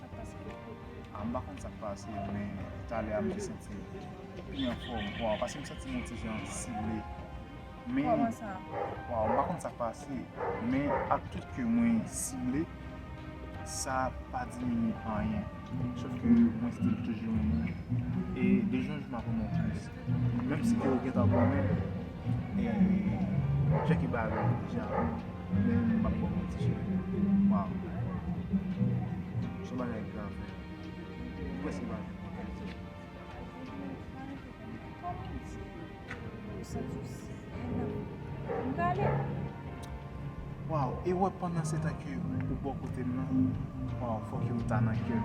Sak pase koko? Ah m pa konn sak pase men depi talè a m te santi m pi anfòm waaw pase m santi m yon ti jan sible men Kòman sa? Waaw m pa konn sak pase men ak tout ke mwen sible sa pa diminye anyen sof ke mwen still toujou yon moun e de jou an jou m ap anmò plis. Menm si ke ou gentan konnen e Jacky bay avèw deja men m pap baw manti cheri waw son bagay grav freo m prèske pa jwenn mo pou m diw. Waw e wè pandan se tan ke ou bò kotem nan waw fòk yo m ta nan kèm.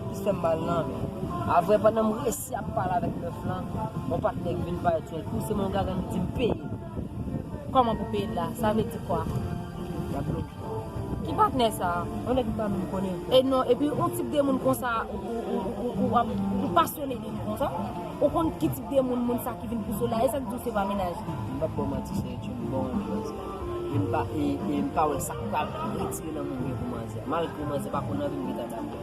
Li fèm mal nan men. Avwe pandan m resi ap pale avek meuf lan yon patne ki vin virtuel pou se mwen gaga li dim peyel. Koman pou peyel la sa vle di kwa. Yap bloke. Ki patne sa? Yon neg m pa menm konnen. E non epi yon tip de moun konsa ou ap ou pasyone de li konsa ou konn ki tip de moun moun sa ki vin pouse w la e sak diw se pa mennaj li. M pap baw manti se yon bon anbyans e m pa e m pa wè sak pral retire nan moun gen pou manzè malgre manzè pa konn anvi m gen ta damou.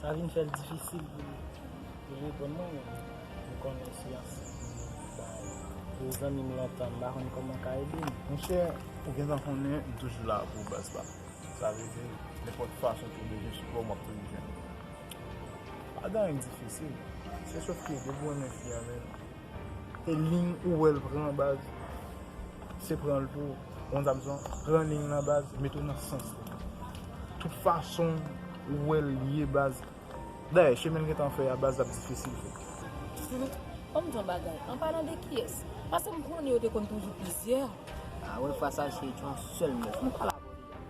Sa vin fè l difisil pou li reponn mwen men m konnen si ansent m nan m bay pou zanmi m lontan m pa konn kòman m ka ede m. Monchè ou gentan konnen m toujou la pou w baz pam. Sa vle di nenpòt fason ke w bezwen sipò m ap toujou jwenn ou. Pa gen anyen k difisil. Se sof ke depi w renmen fi an menn E ling ou wèl pran baz se pranl tou bon zam son pran ling lan baz metel nan sans li tout fason ou wèl ye baz dayè chemenl gentan fè a baz lap difisil fèt. Sweet kòmn jan bagay an palan de kiyès paskem konnen yo te konn toujou plizyè. Ah wè fwa sa se yon sèl mèt nou pral abòde.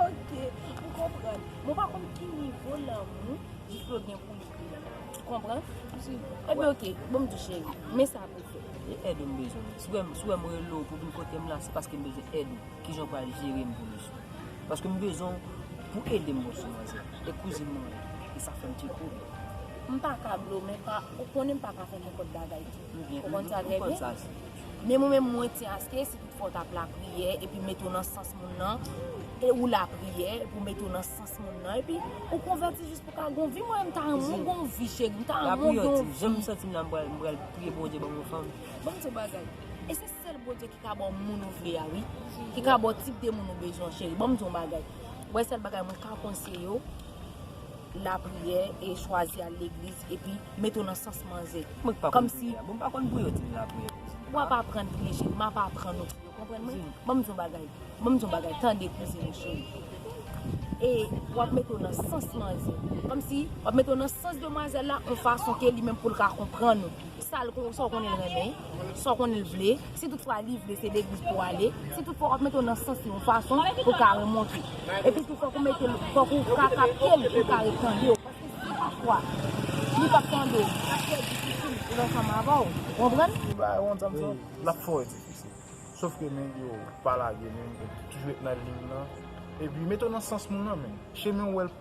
Ok, m konprann. Men w pa konn ki nivo lanmou Diplo gen pou Nicky la. Ou konprann? Si. Enben ok, bon m di cheri, men sa pou w fè. E èd ou m bezwen. Si w wè m rele w pou w vin kote m la, se paske m bezwen èd ou. Kijan w pral jere m pou misye? Paske m bezwen w pou w ede m wè sou manzè. E kouzin mwen an. E sa fè m ti twouble. M pa ka blo, men pa, ou konnen m pa ka fè nenpòt bagay tou. Ou konn sa trè byen. Men mwen menm mwen ti aske si tout fwa w tap lapriyè epi mete w nan sans moun nan e ou lapriyè pou mete w nan sans moun nan epi ou konvèti jis pou ka gon vi mwen menm ta renmen gon vi cheri m ta renmen w gon vi jan m santi m la m pral priye Bondye ban m yon fanm bon m di w bagay e se sèl Bondye ki ka ba w moun ou vle a wi ki ka ba w tip de moun ou bezwen cheri bon m di w bagay wè sèl bagay mwen ka konseye w. lapriyè e chwazi al legliz epi mete w nan sans manzè kòmsi wap aprann priye cheri map aprann ou priye ou konprann mwen banm di w yon bagay banm di w yon bagay tande kouzin m cheri e wap mete w nan sans manzè kòmsi wap mete w nan sans demwazèl la yon fason ke li menm pou l ka konprann ou. Sa l kon, sa w konnen l renmen, sa w konnen l vle, si tout fwa li vle se legliz pou w ale, si tout fwa w ap mete w nan sans li yon fason pou w ka remonte. Epi tou fòk ou mete l, fòk ou ka kapte l pou l ka ret tande w. Paske si pa fwa, li p ap tande w, l ap fè difisil pou l ansanm avè w. Ou konprann? Yon bagay wont sa m sou, l ap fè w difisil. Sof ke men, yo, pa lage men, toujou ret nan liy lan. Epi mete w nan sans moun lan men. Chemen w wè l.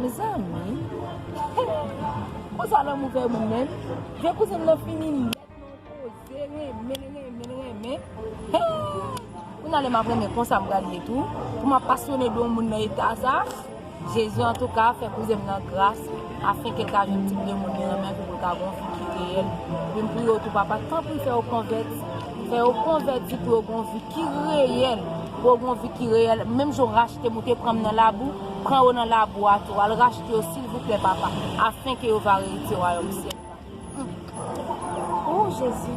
Mezanmi Kon sa lanmou fè moun menm Vye kouzin m nan fini nèt nan yon koze renmen renmen renmen Kounye a lè m ap renmen konsa m pral ye tou Pou m ap pasyone de yon moun nan eta sa Jezi antouka fè kouzin m nan gras Afenke l ka jwenn tip de moun li renmen pou l ka gonfle ki reyèl Menm pou yo tou papa tanpri fè yo konvèti Fè yo konvèti pou yo gon vi ki reyèl, pou yo gon vi ki reyèl, menm jan w rachte m ou te pran m nan labou, pran yo nan labou a tou, al rachte yo silvouplè papa, afenke yo va eritye wayòm syèl la. Humm ooh Jezi.